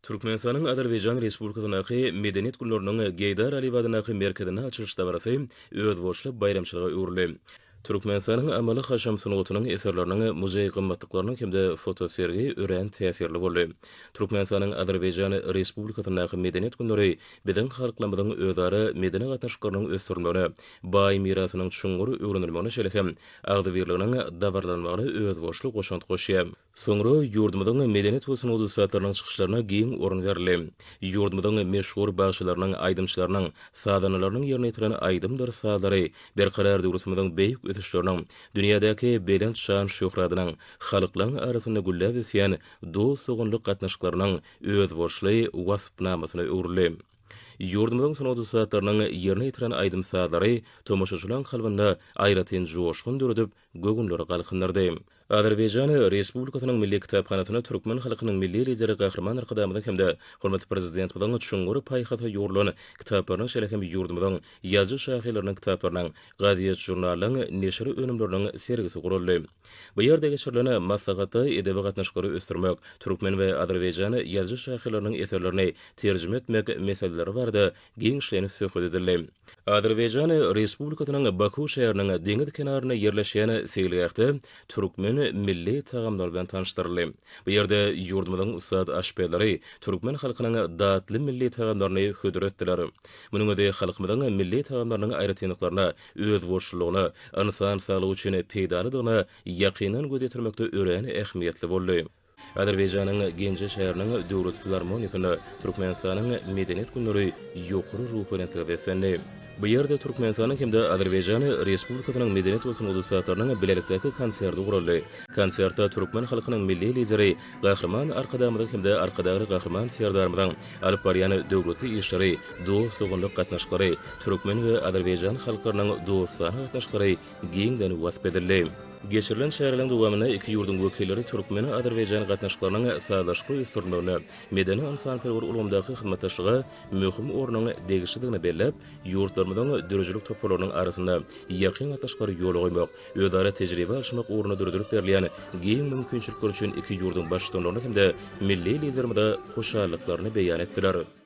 Türkmenistanyň Azerbaýjan Respublikasyndaky Medeniýet günleriniň Geýdar Aliýew adyndaky merkezinde açylyş dabarasy özboluşly baýramçylyga öwrüldi. Türkmenistanyň amaly-haşam sungatynyň eserleriniň, muzeý gymmatlyklarynyň hem-de fotosergi örän täsirli boldy. Türkmenistanyň Azerbaýjan Respublikasyndaky Medeniýet günleri biziň halklarymyzyň özara medeni gatnaşyklarynyň ösdürilmegine, baý mirasynyň çuňňur öwrenilmegine şeýle hem agzybirliginiň dabaralanmagyna özboluşly goşant goşýar. Soňra ýurdumyzyň medeniýet we sungat ussatlarynyň çykyşlaryna giň orun berildi. Ýurdumyzyň meşhur bagşylarynyň, aýdymçylarynyň, sazandalarynyň ýerine ýetiren aýdymdyr sazlary Berkarar döwletimiziň beýik ösüşleriniň, dünýädäki belent şan-şöhratynyň, halklaryň arasynda gülläp ösýän dost-doganlyk gatnaşyklarynyň özboluşly waspnamasyna öwrüldi. Ýurdumyzyň sungat ussatlarynyň ýerine ýetiren aýdym-sazlary tomaşaçylaryň kalbynda aýratyn joşgun döredip, göwünleri galkyndyrdy. Azerbaýjan Respublikasynyň Milli kitaphanasyna türkmen halkynyň Milli Lideri Gahryman Arkadagymyzyň hem-de hormatly Prezidentimiziň çuňňur paýhasa ýugrulan kitaplarynyň şeýle hem ýurdumyzyň ýazyjy-şahyrlarynyň kitaplarynyň, gazet-žurnallaryň neşir önümleriniň sergisi guraldy. Bu ýerde geçirilen maslahatda edebi gatnaşyklary ösdürmek, türkmen we azerbaýjan ýazyjy-şahyrlarynyň eserlerini terjime etmek meseleleri barada giňişleýin söhbet edildi. Azerbaýjan Respublikasynyň Baku şäheriniň deňiz kenarynda ýerleşýän seýilgähde türkmen milli tagamlary bilen tanyşdyryldy. Bu ýerde ýurdumyzyň ussat aşpezleri türkmen halkynyň datly milli tagamlaryny hödür etdiler. Munuň özi halkymyzyň milli tagamlarynyň aýratynlyklaryna, özboluşlylygyna, ynsan saglygy üçin peýdalydygyna ýakyndan göz ýetirmekde örän ähmiýetli boldy. Azerbaýjanyň Genje şäheriniň Döwlet filarmoniýasynda Türkmenistanyň Medeniýet günleri ýokary ruhubelentlige beslendi. Bu ýerde Türkmenistanyň hem-de Azerbaýjan Respublikasynyň medeniýet we sungat ussatlarynyň bilelikdäki konserti guraldy. Konsertde türkmen halkynyň Milli Lideri Gahryman Arkadagymyzyň hem-de Arkadagly Gahryman Serdarymyzyň alyp barýan döwletli işleri, dost-doganlyk gatnaşyklary, türkmen we azerbaýjan halklarynyň dostana gatnaşyklary giňden wasp edildi. Geçirilen çäräniň dowamynda iki ýurduň wekilleri türkmen-azerbaýjan gatnaşyklarynyň sazlaşykly ösdürilmegine, medeni-ynsanperwer ulgamdaky hyzmatdaşlyga möhüm ornuň degişlidigini belläp, ýurtlarymyzyň döredijilik toparlarynyň arasynda ýakyn gatnaşyklary ýola goýmak, özara tejribe alşmak ugrunda döredilip berilýän giň mümkinçilikler üçin iki ýurduň Baştutanlaryna hem-de milli Liderimize hoşallyklaryny beýan etdiler.